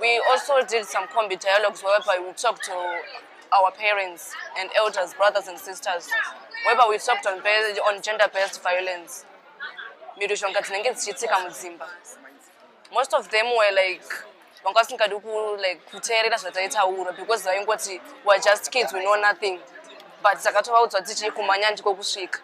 We also did some combi dialogues whereby we talked to our parents and elders, brothers and sisters, whereby we talked on, on gender-based violence. Mirushonga dzinenge dzichiitika mudzimba. Most of them were like vanga vasingadi like kuteerera zvataitaura because vaingoti were just kids we know nothing but takatova udzwa tichii kumanya ndiko kusvika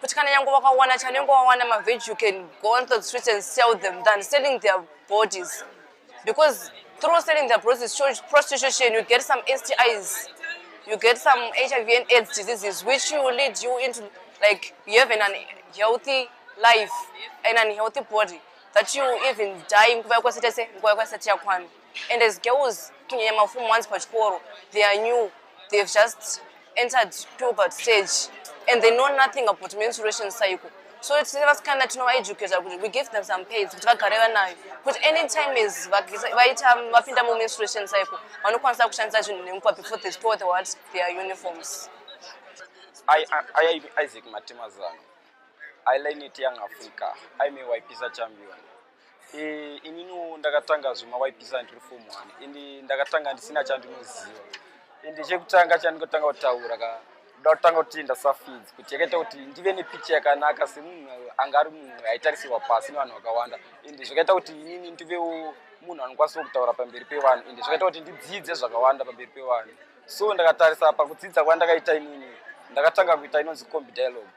kuti kana nyange wakawana chanenge wawana maveg you can go on the streets and sell them than selling their bodies because through selling their bodies through prostitution you get some stis you get some hiv and aids diseases which will lead you into like you have an unhealthy life an unhealthy body that you even die nguva yakwasitese nguva yakwasati yakwana and as girls kunyanya mafomu once pachikoro they are new they have just entered puberty stage and they know nothing about menstruation cycle so tine vasikana tinovaeducata kuti we give them some paids kuti vagare vanayo kuti any time is vaita vapinda mumenstruation cycle vanokwanisa kushandisa zvinhu nemupa before they store the what their uniforms ayai isaac matemazano iline it young africa aimewipisa champion Eh, ininiwo ndakatanga zvemawaipisa ndiri form one indi ndakatanga ndisina chandinoziva indi chekutanga chandikotanga kutaura ka ndoda kutanga kuti ndasafidzi kuti yakaita kuti ndive nepicha yakanaka semunhu anga ari munhu aitarisirwa pasi nevanhu vakawanda indi zvakaita kuti inini ndivewo munhu anokwanisawo kutaura pamberi pevanhu indi zvakaita kuti ndidzidze zvakawanda pamberi pevanhu so ndakatarisa pakudzidza kwandakaita inini ndakatanga kuita inonzi combi dialogue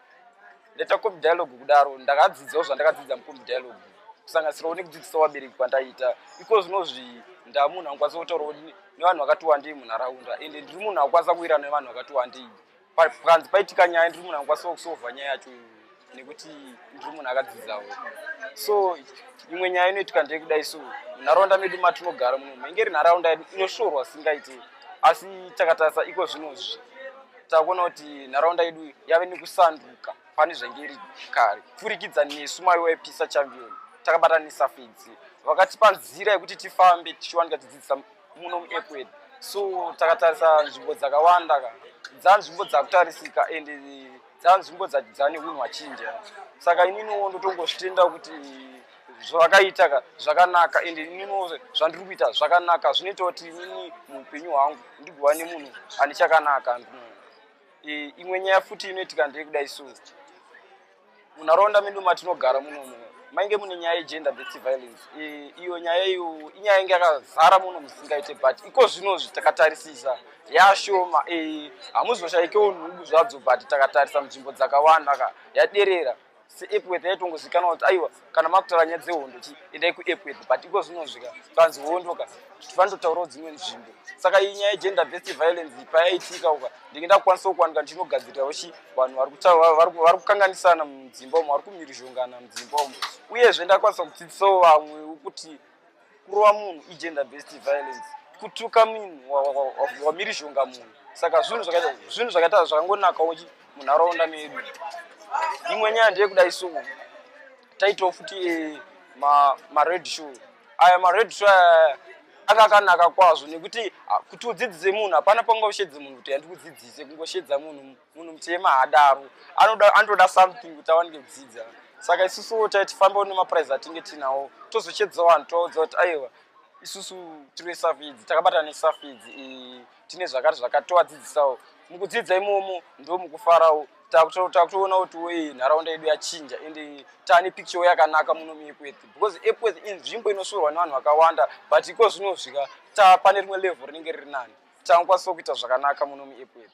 ndaita comp dialogue kudaro ndakadzidzawo zvandakadzidza mucomp dialogue kusanganisirawo nekudzidzisa vabereki kwandaita iko zvinozvi ndamunhu anokwanisa kutaurawo nevanhu vakati wandei munharaunda ende ndiri munhu akukwanisa kuwirana nevanhu vakati wandei panzi paitika nyaya ndiri munhu anokwanisa kusova nyaya yacho nekuti ndiri munhu akadzidzawo so imwe nyaya inoitika ndeyekudai so munharaunda medu matinogara muno maingeri nharaunda yedu inoshorwa singaite asi takatarisa iko zvinozvi takuona kuti nharaunda yedu yave nekusanduka pane zvainge iri kare kupfurikidza nesu mai waipisa chambion takabatanisa fidzi vakatipa nzira yekuti tifambe tichiwanika tidzidzisa muno muepu yedu so takatarisa nzvimbo dzakawanda ka dzanzvimbo dzakutarisika and dzanzvimbo dzane unhu hwachinja saka ininiwo ndotongozvitenda kuti zvavakaita zvakanaka ende ininiwo zvandiri kuita zvakanaka zvinoita kuti inini muupenyu hwangu ndigova nemunhu ane chakanaka e, imwe nyaya futi inoitika ndeye kudai so munharaunda medu matinogara munomu mainge mune nyaya yegender based violence e, iyo nyaya iyo inyaya inge yakazara muno musingaite but iko zvino zvitakatarisisa yashoma e, hamuzoshayikewo nhubu zvadzo but takatarisa munzvimbo dzakawanda ka yaderera seepworth yaitongozikanwa kuti aiwa kana makutaura nyaya dzehondo chi endai kuepworth but iko zvinozvika kanzi hondo ka tinototaurawo dzimwe nzvimbo saka iyi nyaya yegender based violence payaitika uka ndinge ndakukwanisa kuwanika ndinogadzirirawo chi vanhu vari kukanganisana mudzimba umo vari kumirizhongana mudzimba umo uyezve ndakwanisa kudzidzisawo vamwe kuti kurova munhu igender based violence kutuka munhu wamirizhonga munhu saka zvinhu zvakaita zvinhu zvakaita zvakangonakawo munharaunda medu imwe nyaya ndeyekudai so taitawo futi eh, mared show aya mared show aya anga akanaka kwazvo nekuti ah, kuti udzidzise munhu hapana pangoshedze munhu kuti handikudzidzise kungoshedza munhu munhu mutema haadaro anoda anotoda something kuti awanike kudzidza saka isusuwo tai tifambewo nemapurize atinge tinawo tozochedza vanhu tovaudza kuti aiwa isusu tiri vesafidzi takabatana nesafidzi tine zvakati zvakati tovadzidzisawo mukudzidza imomo ndo mukufarawo takutoona kuti wei nharaunda yedu yachinja ende taane picture yakanaka muno muepworth because epworth inzvimbo inosvorwa nevanhu vakawanda but iko zvinosvika tapane rimwe level rinenge riri nani Tangokwanisa kuita zvakanaka muno muEpworth.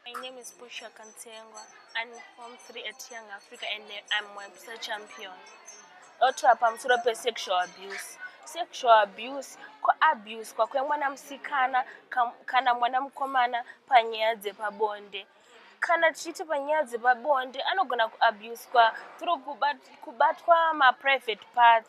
My name is Pusha Kantengwa. I'm form 3 at Young Africa and I'm Webster champion. Otra pamusoro pesexual abuse. Sexual abuse kuabuse kwakuya mwana musikana kana mwana mukomana panyaya dzepabonde. Kana tichiti panyaya dzepabonde anogona kuabuswa through kubatwa maprivate part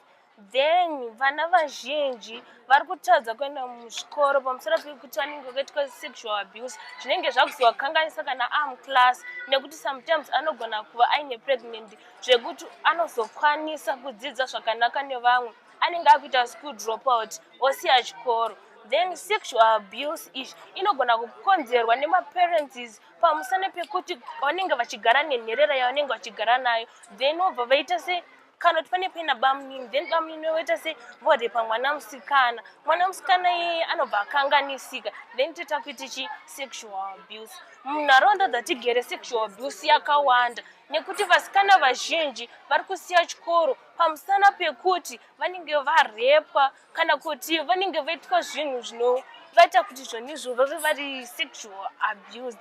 Then vana vazhinji vari kutadza kuenda muzvikoro pamusoro pekuti vanenge vakaitwa sexual abuse zvinenge zvakuzovakanganisa kana amuclass nekuti sometimes anogona kuva aine pregnant zvekuti anozokwanisa kudzidza zvakanaka nevamwe anenge akuita school dropout osiya chikoro then sexual abuse izvi inogona kukonzerwa nemaparences pamusana pekuti vanenge vachigara nenherera yavanenge vachigara nayo then vobva vaita se kana kuti pane paina bamunini then bamunini voita se vorepa mwana musikana mwana musikana iyeye anobva akanganisika then toita kuiti chi sexual abuse munharaunda dzatigere sexual abuse yakawanda nekuti vasikana vazhinji vari kusiya chikoro pamusana pekuti vanenge varepwa kana kuti vanenge vaitwa zvinhu zvinovaita kuti zvonizvo vave vari sexual abused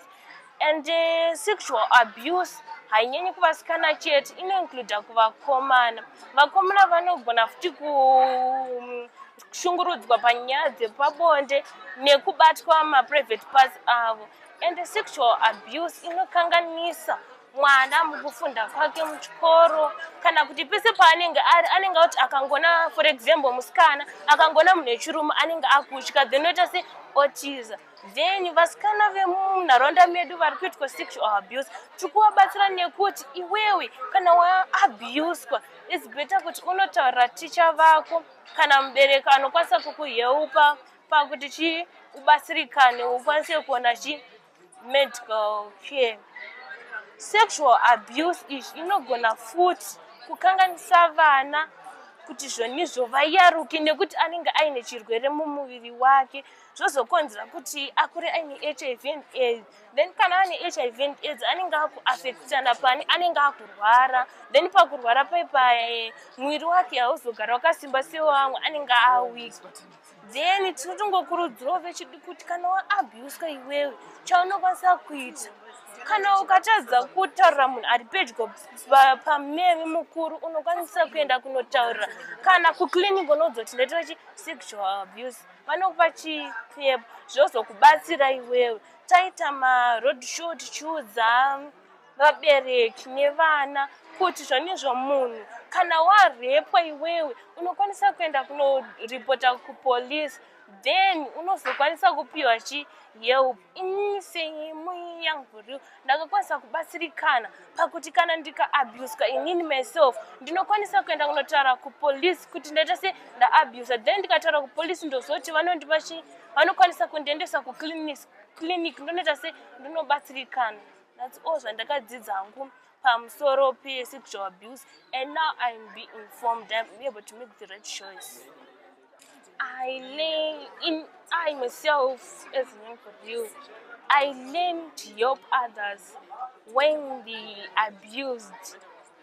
and uh, sexual abuse hainyanyi kuvasikana chete inoincluda kuvakomana vakomana vanogona futi ku mm, kushungurudzwa panyaya dzepabonde nekubatwa maprivate parts avo and sexual abuse inokanganisa mwana mukufunda kwake muchikoro kana kuti pese paanenge ari anenge akuti akangona for example musikana akangona munhu wechirume anenge akutya then oita se otiza then vasikana vemunharaunda medu vari kuitwa sexual abuse tiri kuvabatsira nekuti iwewe kana waabuswa is better kuti unotaurira ticha vako kana mubereki anokwanisa kukuheupa pakuti chii ubatsirikane ukwanise kuona chii medical care sexual abuse izvi inogona futi kukanganisa vana kuti zvonizvo vayaruke nekuti anenge aine chirwere mumuviri wake zvozokonzera kuti akure aine hiv and aids then kana ane hiv and aids anenge akuafektana pani anenge akurwara then pakurwara paipaye muviri wake hauzogara wakasimba sewamwe anenge awika then tiri tongokurudzirawo vechidi kuti kana waabuswa iwewe chaunokwanisa kuita kana ukatadza kutaurira munhu ari pedyo pameve mukuru unokwanisa kuenda kunotaurira kana kuclinic unozoti ndaitira chi sexual abuse vanokupa chipepo zvozokubatsira iwewe taita maroad show tichiudza vabereki nevana kuti zvanezvo munhu kana warepwa iwewe unokwanisa kuenda kunoripota kupolice then unozokwanisa kupiwa chi help ini seimwe yangu rio ndakakwanisa kubatsirikana pakuti kana ndikaabuswa inini myself ndinokwanisa kuenda kunotaura kupolice kuti ndaita se ndaabusa then ndikataura kupolice ndozoti vanondipa chii vanokwanisa kundiendesa kuclinic clinic ndonoita se ndinobatsirikana thats all zvandakadzidza hangu pamusoro pesexual abuse and now im be informed im able to make the right choice i learn in i myself as an interview i learn to help others when they abused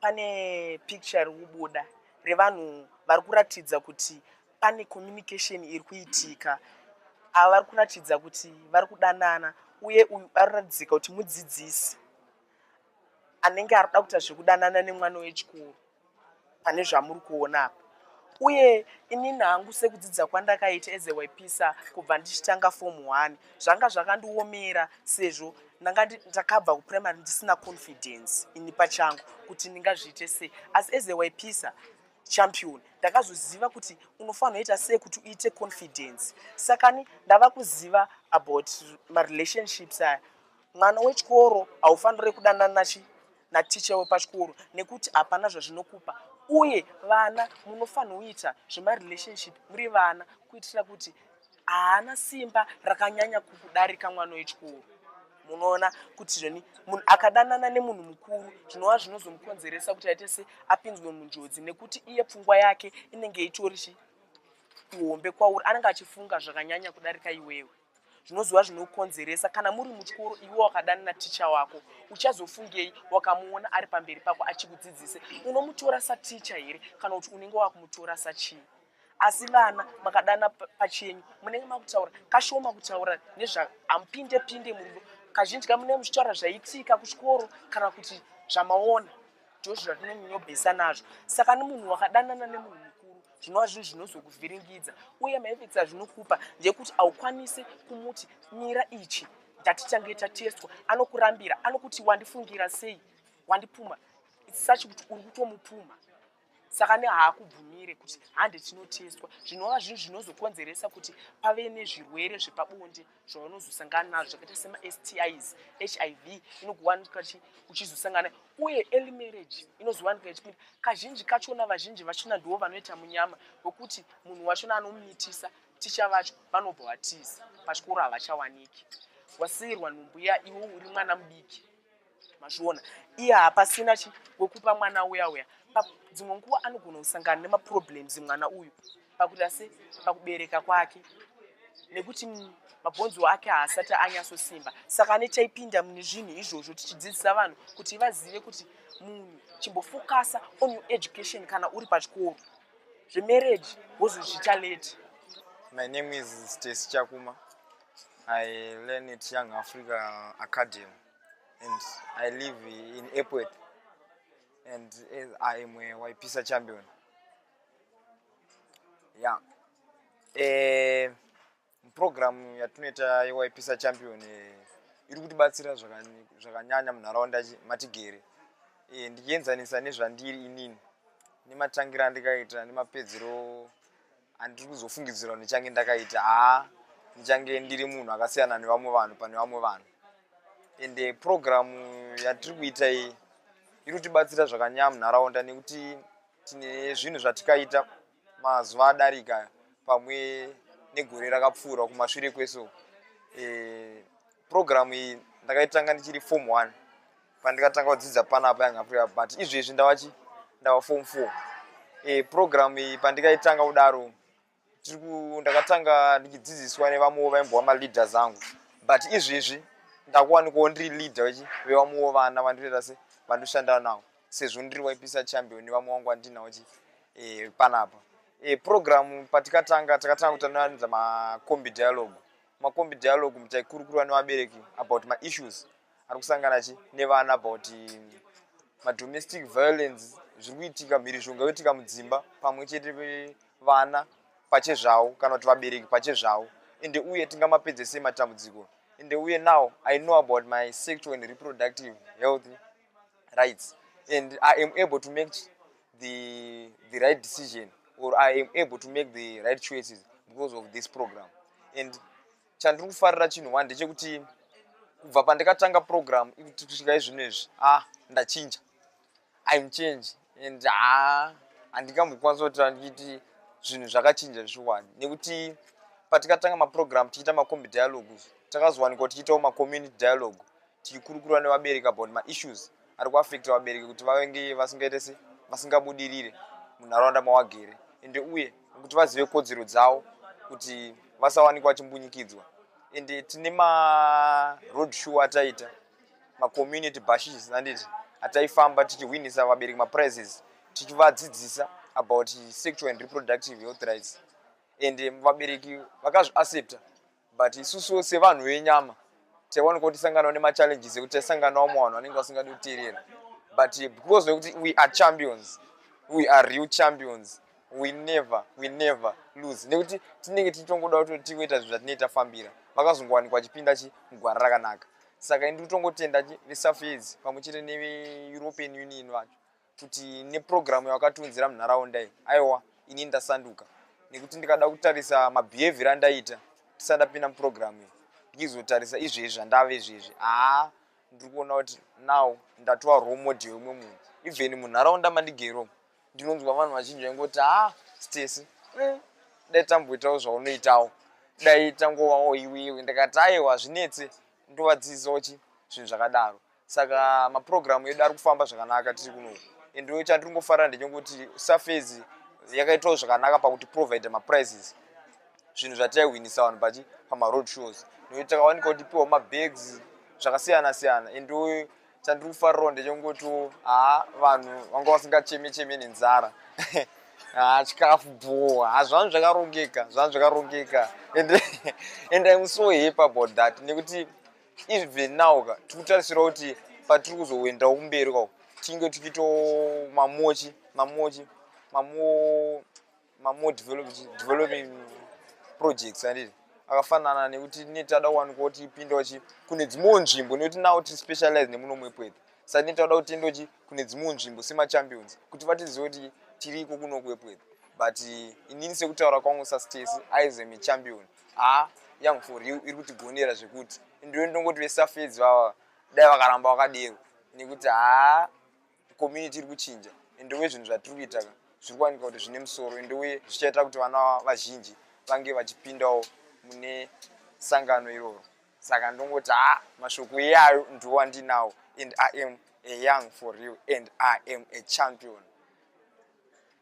Pane picture iri kubuda revanhu vari kuratidza kuti pane communication iri kuitika. Ava vari kuratidza kuti vari kudanana uye uyu ari kuratidzika kuti mudzidzisi anenge ari kuda kuita zvekudanana nemwana wechikoro pane zvamuri kuona apa. uye inini hangu sekudzidza kwandakaita as a wepisa kubva ndichitanga form one zvanga zvakandiomera sezvo ndanga ndakabva kuprimary ndisina confidence ini pachangu kuti ndingazviite sei asi as a wepisa champion ndakazoziva kuti unofanira ita sei kuti uite confidence sakani ndava kuziva about marelationships aya Mwana wechikoro haufanire kudanana chi naticha wepachikoro nekuti hapana zvazvinokupa uye vana munofanirwa kuita zvemarelationship muri vana kuitira kuti haana simba rakanyanya kukudarika mwana wechikoro munoona kuti zveni munhu akadanana nemunhu mukuru zvinova zvinozomukonzeresa kuti aite se apinzwe munjodzi nekuti iye pfungwa yake inenge itori chi ihombe kwauri anenge achifunga zvakanyanya kudarika iwewe zvinoziva zvinokonzeresa kana muri muchikoro iwe wakadana naticha wako uchazofungei wakamuona ari pamberi pako achikudzidzise unomutora saticha here kana kuti unenge wakumutora sachii asi vana makadana pachenyu munenge makutaura kashoma kutaura nezvaamupinde pinde murudo kazhinji ka munenge muchitaura zvaitika kuchikoro kana kuti zvamaona ndozvazvinonyobhesa nazvo saka nemunhu wakadanana nemunhu zvinova zvinhu zvinozokuvhiringidza uye maefects azvinokupa ndeyekuti haukwanisi kumuti mira ichi ndatichange tatestwa anokurambira anokuti wandifungira sei wandipuma sachi kuti uri kutomupuma saka nehaakubvumire kuti hande tinotestwa zvinova zvinhu zvinozokonzeresa kuti pave nezvirwere zvepabonde zvaunozosangana nazvo zvakaita semaSTIs, hiv inokuwanika uchizosangana uye early marriage inozowanika ichipinda kazhinji kachona vazhinji vachona ndivo vanoita munyama wekuti munhu wachona anomitisa ticha vacho vanobva vatiza pachikoro havachawaniki wasiirwa nhumbu iya iwe uri mwana mudiki mazviona iye hapasina chi wekupa mwana uya uya dzimwe nguva anogona kusangana nemaproblems mwana uyu pakuita se pakubereka kwake nekuti mabhonzo ake haasati anyasosimba saka ane chaipinda mune zvinhu izvozvo tichidzidzisa vanhu kuti vazive kuti munhu chimbofokasa on your education kana uri pachikoro zvemarriage wozozviita late my name is stacy chakuma i learn it young africa academy and I live in Epworth and I am a Waipisa champion. Yeah. Eh, program yatinoita yewaipisa champion eh, iri kutibatsira zvakanyanya munharaunda matigere eh, ndichienzanisa nezvandiri inini nematangira andikaita nemapedzero handiri kuzofungidzira kuti ndichange ndakaita haa ndichange ndiri munhu akasiyana nevamwe vanhu pane vamwe vanhu ende purogiramu yatiri kuita iyi iri kutibatsira zvakanyaya munharaunda nekuti tine zvinhu zvatikaita mazuva adarika pamwe negore rakapfuura kumashure kweso e, purogiramu iyi ndakaitanga ndichiri form one pandikatanga kudzidza panapa yanga free but izvezvi ndavachi ndava form four e, eh, programu iyi pandikaitanga kudaro ndakatanga ndichidzidziswa nevamwewo vaimbova maleader zangu but izvezvi ndakuwanikawo ndiri leader vechi vevamwewo vana vandireta se vandoshanda navo sezvo ndiri waipisa champion vamwe wangu andinawo chi e, eh, panapa e, eh, programu patikatanga takatanga kutanoanza macombi dialogue macombi dialogue mutaikurukura nevabereki about maissues ari kusangana chi nevana about madomestic violence zviri kuitika mhirizhonga yoitika mudzimba pamwe chete vana pachezvavo kana kuti vabereki pachezvavo ende uye tingamapedze sei matambudziko ende uye now i know about my sexual and reproductive health rights and i am able to make the, the right decision or i am able to make the right choices because of this program and chandiri kufarira chinhu one ndechekuti kubva pandikatanga program ikuti kusvika izvino izvi a ah, ndachinja im change and ha ah, handingambokwanisa kutira ndichiti zvinhu zvakachinja zvishuwani nekuti patikatanga maprogram tichiita macombi dialogue takazowanikwa tichiitawo macommunity dialogue tichikurukura nevabereki about maissues ari kuafecta vabereki kuti vavenge vasingaite se vasingabudirire munharaunda mawagere ende uye kuti vazive kodzero dzavo kuti vasawanikwa vachimbunyikidzwa ende tine maroad show ataita macommunity bashes anditi ataifamba tichihwinisa vabereki maprizes tichivadzidzisa about sexual and reproductive health rights ende vabereki vakazviaccepta but isusuwo sevanhu venyama taiwanika kuti tisanganawo nemachallenges ekuti taisanganawo mwa vanhu vanenge vasingadi kuteerera but because wekuti we are champions we are real champions we never we never lose nekuti tinenge tichitongoda kuti tigoita zvinhu zvatinei tafambira vakazongowanikwa vachipinda chi mugwara rakanaka saka ini ndikutongotenda chi vesafaids pamwe chete neveeuropean union vacho kuti neprogram yawakatiunzira munharaunda iyi aiwa ini ndasanduka nekuti ndikada kutarisa mabehavior andaita tisada pinda muprogram iyi ndichizotarisa izvezvi zvandave izvezvi haa ndiri kuona kuti now ndatova role model yemwe munhu even munharaunda mandigero ndinonzwa vanhu vazhinji vaingoti haa stesi eh, dai tamboitawo zvaunoitawo dai tangovawo iwewe ndikati aiwa zvinetse ndovadzidzisawo chi zvinhu zvakadaro saka maprogramu edu ari kufamba zvakanaka tiri kuno ende chandiri ngofarira ndechekuti surface yakaitawo zvakanaka pakuti provide maprizes zvinhu zvataihwinisa vanhu pachi pamaroad shows nokuti takawanika kuti piwa mabags zvakasiyana siyana ende chandiri kufarirawo ndechekuti haa vanhu vanga vasingacheme cheme nenzara haa chikafu bhowa ha zvanhu zvakarongeka zvanhu zvakarongeka ende ende imusohepa about that nekuti even now ka tiri kutarisira kuti patiri kuzoendawo kumberi kwako tinge tichiito mamochi mamochi mamo mamo developing projects anditi akafanana nekuti ne tada kuwanikwa kuti ipinda uchi kune dzimwewo nzvimbo nekuti nawo tiri specialize nemuno mwepwedha saka ne tauda kutenda uchi kune dzimwewo nzvimbo semachampions kuti vatizive kuti tiri iko kuno kwepwedha but inini sekutaura kwangu sastesi aizve michampion haa young for real iri kutigonera zvekuti ndiwe ndongoti vesafedzi vava dai vakaramba vakadero nekuti haa community iri kuchinja ende uye zvinhu zvatiri kuita ka zviri kuwanika kuti zvine musoro ende uye zvichaita kuti vana vazhinji vange vachipindawo mune sangano iroro saka ndongoti haa mashoko iyayo ndiwo andinawo and i am a young for real and i am a champion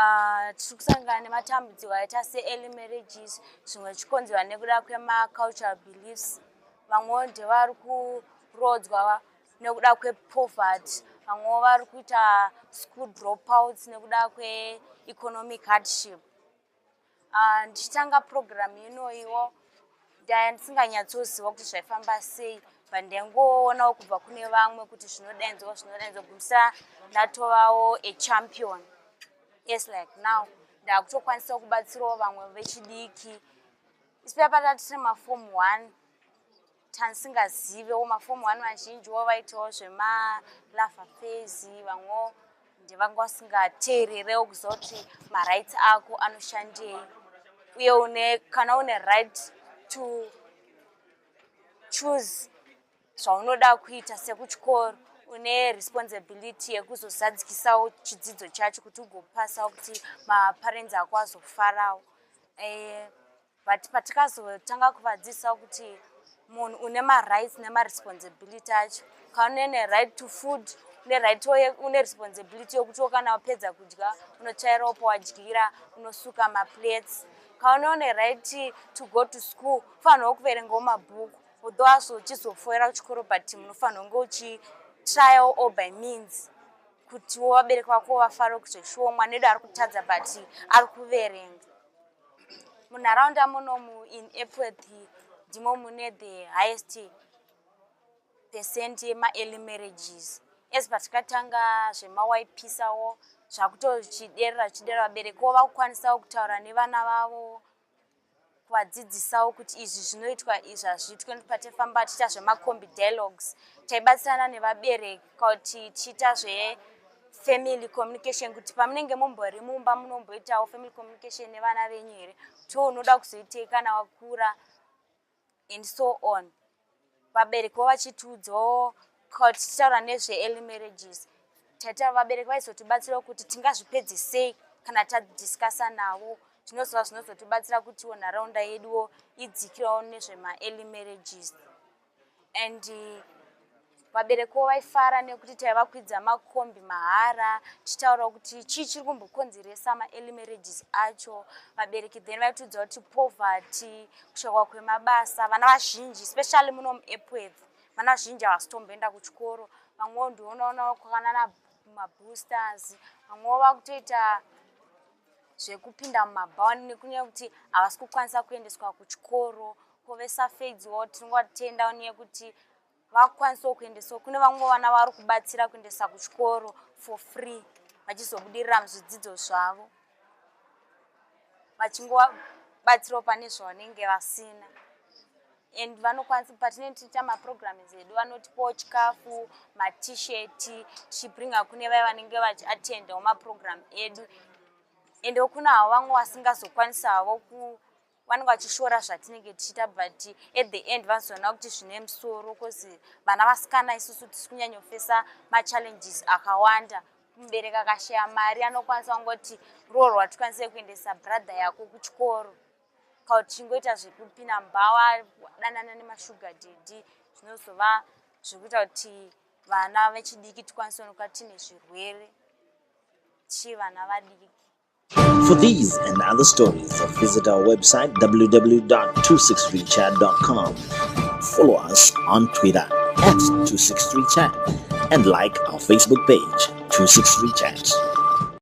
Ah, tiri kusangana nematambudziko aita seearly marriages zvimwe zvichikonzerwa nekuda kwemacultural beliefs vamwewo ndevari kuroodzwa nekuda kwepoverty vamwewo vari kuita school dropouts nekuda kweeconomic hardship Ah, ndichitanga program inoiwo ndaya ndisinganyatsoziva kuti zvaifamba sei but ndaingoonawo kubva kune vamwe kuti zvinodainzwa zvinodainzwa gumisa ndatovawo achampion yes like now ndakutokwanisawo kubatsirawo vamwe vechidiki isipaya patati tine mafomu one tansingazivewo mafomu one vazhinji wo vaitawo zvemalava fezi vamwewo ndevanga vasingateererewo kuziva kuti marights ako anoshandei uye une kana une right to choose zvaunoda kuita sekuchikoro une responsibility yekuzozadzikisawo chidzidzo chacho kuti ugopasawo kuti maparenzi ako azofarawo eh, but patikazotanga kuvadzidzisa kuti munhu une marights nemaresponsibility acho kaunene right to food une right une responsibility yokutiwo kana wapedza kudya unochaira opo wadyira unosuka maplates kaune une right to go to school ufanirwa kuverengawo mabhuku although aso uchizofoira kuchikoro but munofanirwa kunge uchi trial or by means kutiwo vabereki vako vafare kuzoshuwa mwana edu ari kutadza but ari kuverenga munharaunda munomu in epworth ndimo mune the highest percent yemaearly marriages as patakatanga zvemawaipisawo zvakutochiderera zvichidera vabereki wo vakukwanisawo kutaura nevana vavo kuvadzidzisawo kuti izvi zvinoitwa izvi hazviitwe patefamba tichiita zvemacombi dialogues taibatsirana nevabereki kuti tichiita zve family communication kuti pamunenge mumbori mumba munomboitawo family communication nevana venyu here to unoda kuzoitei kana wakura and so on vabereki wo vachitiudzawo kuti tichitaura nezveearly marriages taitaura vabereki vaizotibatsirawo kuti tingazvipedze sei kana tadiscussa navo zvinozova zvinozotibatsira kutiwo nharaunda yeduwo idzikirawo nezvemaearly marriages and vabereko vaifara nekuti taivakwidza makombi mahara tichitaurawo kuti chii chiri kumbokonzeresa maearly marriages acho vabereki then vaitiudza kuti poverty kushokwa kwemabasa vana vazhinji especially muno muepworth vana vazhinji havasitomboenda kuchikoro vamwewo ndionaona kwakana maboosters vamwewo vakutoita zvekupinda mumabhaoni nekunyaya kuti havasi kukwanisa kuendeswa kuchikoro kovesafedziwo tinongovatenda nyaya yekuti vakukwanisawo kuendeswa kune vamwe vana vari kubatsira kuendesa kuchikoro for free vachizobudirira muzvidzidzo zvavo vachingobatsirawo pane zvavanenge vasina and vanokwanisa patinenge tichiita maprograms edu vanotipawo chikafu matshirt tichibringa kune vaya vanenge vachiattendawo maprogram edu ende kuna havo vamwe vasingazokwanisa havo ku vanenge vachishora zvatinenge tichiita but at the end vanozoona kuti zvine musoro bcause vana vasikana isusu tisi kunyanyofesa machallenges akawanda mubereki akashaya mari anokwanisa kungoti roorwa tikwanise kuendesa brother yako kuchikoro kana uchingoita zvekupinda mbawa danana nemashuga dhedhi zvinozova zvekuita kuti vana vechidiki tikwanise kunoka tine zvirwere chii vana vadiki For these and other stories, visit our website www.26reachat.com. Follow us on Twitter at 26reachat and like our Facebook page 26reachat.